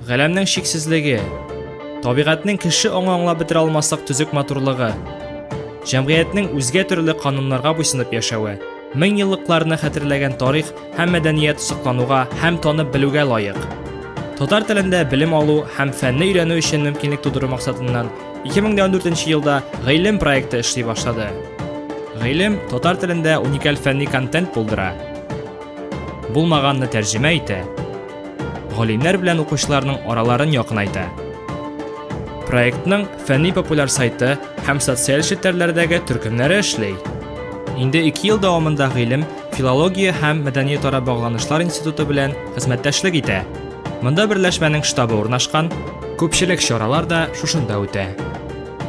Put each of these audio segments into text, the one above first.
Галәмнең чиксезлеге, табигатьнең кеше аңы аңлап бетерә алмаслык төзек матурлыгы, җәмгыятьнең үзгә төрле кануннарга буйсынып яшәве, мең еллыкларны хәтерләгән тарих һәм мәдәният соклануга һәм танып белүгә лаек. Татар телендә белем алу һәм фәнне өйрәнү өчен мөмкинлек тудыру максатыннан 2014 елда Гыйлем проекты эшли башлады. Гыйлем татар телендә уникаль фәнни контент булдыра, булмаганны тәрҗемә итә, галимнәр белән укучыларның араларын якынайта. Проектның фәнни-популяр сайты һәм социаль челтәрләрдәге төркемнәре эшли. Инде 2 ел дәвамында гыйлем филология һәм мәдәниятара багланышлар институты белән хезмәттәшлек итә. Монда берләшмәнең штабы урнашкан, күпчелек чаралар да шушында үтә.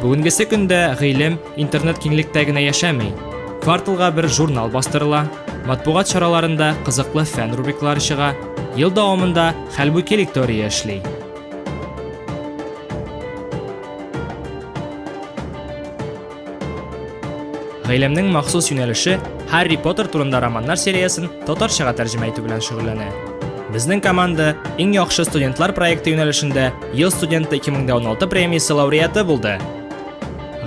Бүгенгесе көндә гыйлем Интернет киңлектә генә яшәми. Кварталга бер журнал бастырыла, матбугат чараларында кызыклы фән рубриклары чыга, ел дәвамында Хәлбуки лектория эшли. Гаиләмнең махсус юнәлеше Харри Поттер турында романнар сериясен татарчага тәрҗемә итү белән шөгыльләнә. Безнең команда иң яхшы студентлар проекты юнәлешендә Ел студенты 2016 премиясе лауреаты булды.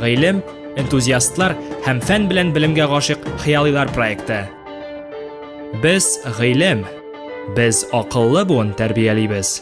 Гыйлем, энтузиастлар һәм фән белән белемгә гашык хыялыйлар проекты. Без гыйлем, без акыллы буын тәрбиялибез.